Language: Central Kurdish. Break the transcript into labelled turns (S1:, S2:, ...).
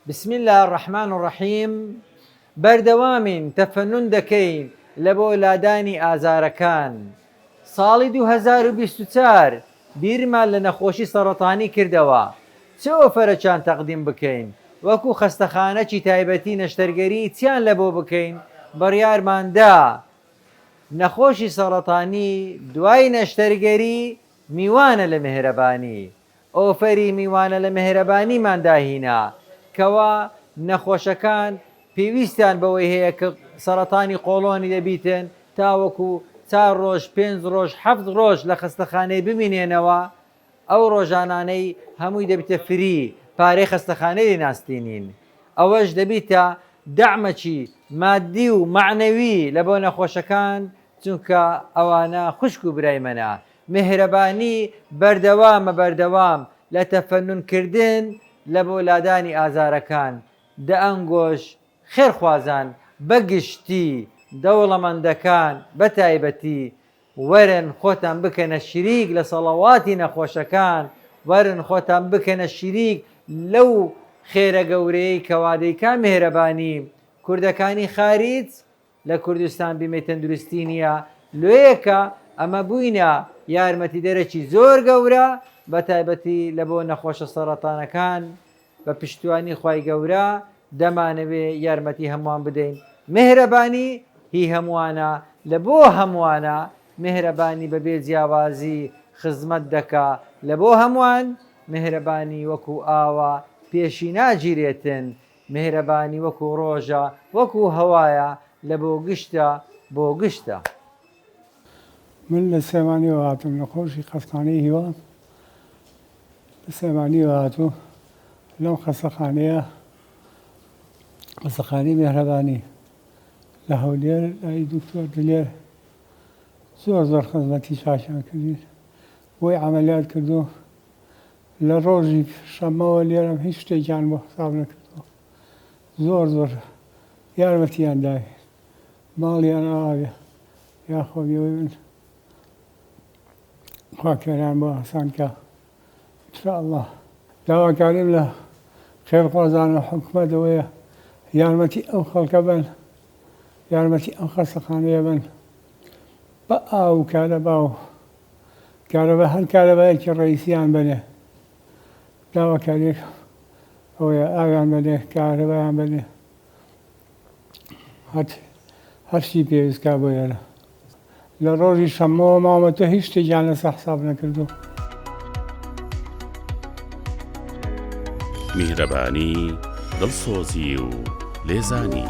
S1: بسم اللە الرحمن الرحیم بەردەوامین تەفەنون دەکەین لەبۆ لادانی ئازارەکان ساڵی دوو هەزار و بیست و چوار بیرمان لە نەخۆشی سەڕەتانی کردەوە چ ئۆفەرەکیان تەقدیم بکەین وەکو خەستەخانەکی تایبەتی نەشتەرگەری چیان لەبۆ بکەین بڕیارمان دا نەخۆشی سەڕەتانی دوای نەشتەرگەری میوانە لە میهرەبانی ئۆفەری میوانە لە مێهرەبانیمان داهینا کەوا نەخۆشەکان پێویستیان بەوەی هەیە کە سەرەتانی قۆڵۆنی دەبیتن تاوەکو چار ڕۆژ پێنج ڕۆژ حەفت ڕۆژ لە خەستەخانەی بمینێنەوە ئەو ڕۆژانانەی هەمووی دەبیتە فری پارەی خەستەخانەی لێ ناستینین ئەوەش دەبیتە دەعمەکی مادی و مەعنەوی لە بۆ نەخۆشەکان چونکە ئەوانە خوشک و برای مەنە میهرەبانی بەردەوامە بەردەوام لە تەفەنون کردن لە بۆ لادانی ئازارەکان دە ئەنگۆش خێر خوازان بە گشتی دەوڵەمەندەکان بە تایبەتی وەرن خۆتان بکەنە شریک لە سەڵەواتی نەخۆشەکان وەرن خۆتان بکەنە شریک لەو خێرە گەورەیەی کەوا دەیکا میهرەبانی کوردەکانی خاریج لە کوردستان بیمەی تەندروستی نییە، لۆیەکە ئەمە بووینە یارمەتیدەرەکی زۆر گەورە بە تایبەتی لە بۆ نەخۆشە سەڕەتانەکان، بە پشتیوانی خوای گەورە دەمانەوێ یارمەتی هەمووان بدەین، میهرەبانی هی هەمووانە لە بۆ هەمووانە، میهرەبانی بە بێ جیاوازی خزمەت دەکا لە بۆ هەمووان، میهرەبانی وەکوو ئاوە پێشی ناگیرێتن، میهرەبانی وەکو ڕۆژە وەکو هەوایە لە بۆ گشتە بۆ گشتە.
S2: من لە سلێمانیەوە هاتووم لە خۆشی قەسخانەی هیوا لە سلێمانیەوە هاتوو لەم خەسەخانەیە قەسەخانی مێهرەبانی لە هەولێر لای دکتۆر دلێر زۆر زۆر خزمەتی چاشان کردین بۆی عملیات کردو لە ڕۆژی شەمەوە لێرەم هیچ شتێکیان بۆ حساب نەکردووە زۆر زۆر یارمەتیان داوێت ماڵیان ئاوێ یاخۆ بێەوەی من خواکەران بۆ ئاسانکە انشاءالله داواکاریم لە خێرخوازان و حکومەت ئەوەیە یارمەتی ئەو خەڵکە بن یارمەتی ئەو خەسەخانەیە بن بە ئاو کارەبا و کارەبا هەر کارەبایەکی ڕئیسیان بەنێ داواکاریێک ئەوەیە ئاویان بەنێ کارەبایان بەنێ هەت هەرشی پێویستکە بۆ ئێرە لە ڕۆژی شەمەوە مامەتە هیچ شتێکیان لەسە حساب نەکردو
S3: میهرەبانی دڵسۆزی و لێزانی.